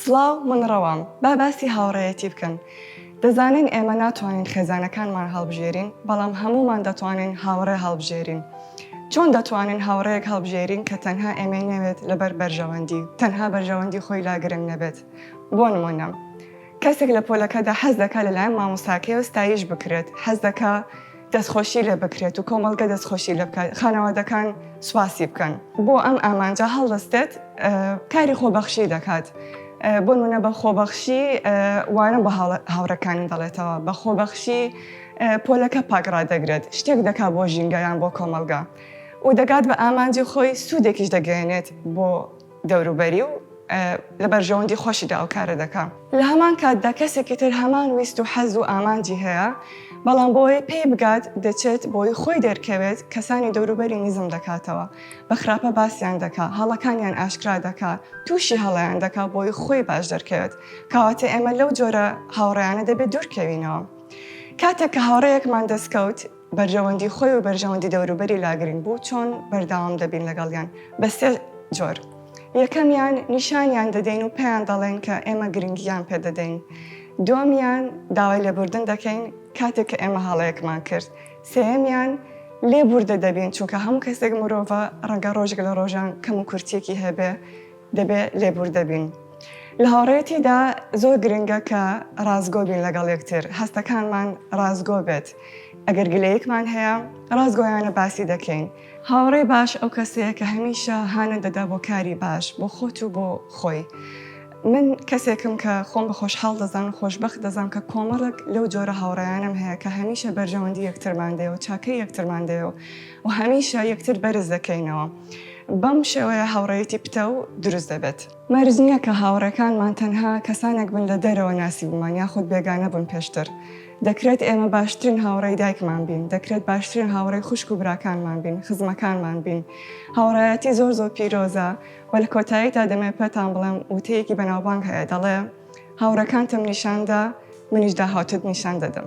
سڵاو من ڕەوام با باسی هاوڕێیەتی بکەن دەزانین ئێمە ناتوانین خێزانەکانمان هەڵبژێرین بەڵام هەمومان دەتوانین هاوڕێ هەڵبژێرین چۆن دەتوانین هاوڕێک هەڵبژێرین کە تەنها ئێمەی نەوێت لەبەر بەرژەوەندی تەنها بەرژەوەندی خۆی لا گرنگ نەبێت بۆ نمونە کەسێک لە پۆلەکەدا حەز دەکا لەلایەن مامۆساکەی و ستایش بکرێت حەز دەکا دەستخۆشی لێ بکرێت و کۆمەڵگە دەستخۆشی لێ بکات، خانەوادەکان سوپاسی بکەن. بۆ ئەم ئامانجە هەڵدەستێت کاری خۆبەخشی دەکات. بۆ نموونە بە خۆبەخشی وانە بە هاوڕێکانی دەڵێتەوە، بە خۆبەخشی پۆلەکە پاک ڕادەگرێت، شتێک دەکات بۆ ژینگە یان بۆ کۆمەڵگە و دەگات بە ئامانجی خۆی، سوودێکیش دەگەیەنێت بۆ دەوروبەری و لە بەرژەوەندی خۆشیدا ئەو کارە دەکا. لە هەمان کاتدا کەسێکی تر هەمان ویست و حەز و ئامانجی هەیە، بەڵام بۆ ئەوەی پێی بگات دەچێت بۆی خۆی دەرکەوێت، کەسانی دەوروبەری نزم دەکاتەوە، بە خراپە باسیان دەکا، هەڵەکانیان ئاشکرا دەکا، تووشی هەڵەیان دەکا بۆی خۆی باش دەرکەوێت، کەواتە ئێمە لەو جۆرە هاوڕێیانە دەبێ دوورکەوینەوە. کاتێک کە هاوڕێیەکمان دەستکەوت، بەرژەوەندی خۆی و بەرژەوەندی دەوروبەری لا گرنگ بوو چۆن بەردەوام دەبین لەگەڵیان بە سێ جۆر یەکەمیان نیشانیان دەدەین و پێیان دەڵێن کە ئێمە گرنگیان پێدەدەین دووەمیان داوای لێبوردن دەکەین کاتێک کە ئێمە هەڵەیەکمان کرد سێەمیان لێبوردە دەبین چونکە هەموو کەسێک مرۆڤە ڕەنگە ڕۆژێک لە ڕۆژان کەم و کورتیەکی هەبێ دەبێ لێبووردە بین. لە هاوڕێیەتیدا زۆر گرنگە کە ڕاستگۆ بین لەگەڵ یەکتر، هەستەکانمان ڕاستگۆ بێت، ئەگەر گلەیەکمان هەیە ڕاستگۆیانە باسی دەکەین. هاوڕێی باش ئەو کەسەیە کە هەمیشە هانت دەدا بۆ کاری باش بۆ خۆت و بۆ خۆی. من کەسێکم کە خۆم بە خۆشحاڵ دەزانم و خۆشبەخت دەزانم کە کۆمەڵێک لەو جۆرە هاوڕێیانەم هەیە کە هەمیشە بەرژەوەندی یەکترمان دەیەو چاکەی یەکترمان دەیەو و هەمیشە یەکتر بەرز دەکەینەوە. بەم شێوەیە هاوڕێیەتی پتەو دروست دەبێت. مەرج نییە کە هاوڕێکانمان تەنها کەسانێک بن لە دەرەوە ناسیبوومان یاخود بێگانە بوون پێشتر. دەکرێت ئێمە باشترین هاوڕێی دایکمان بین، دەکرێت باشترین هاوڕێی خوشک و براکانمان بین، خزمەکانمان بین. هاوڕێیەتی زۆر زۆر پیرۆزە و لە کۆتاییدا دەمەوێت پێتان بڵێم وتەیەکی بەناوبانگ هەیە دەڵێ، هاوڕێکانتم نیشان دا، منیش داهاتووت نیشان دەدەم.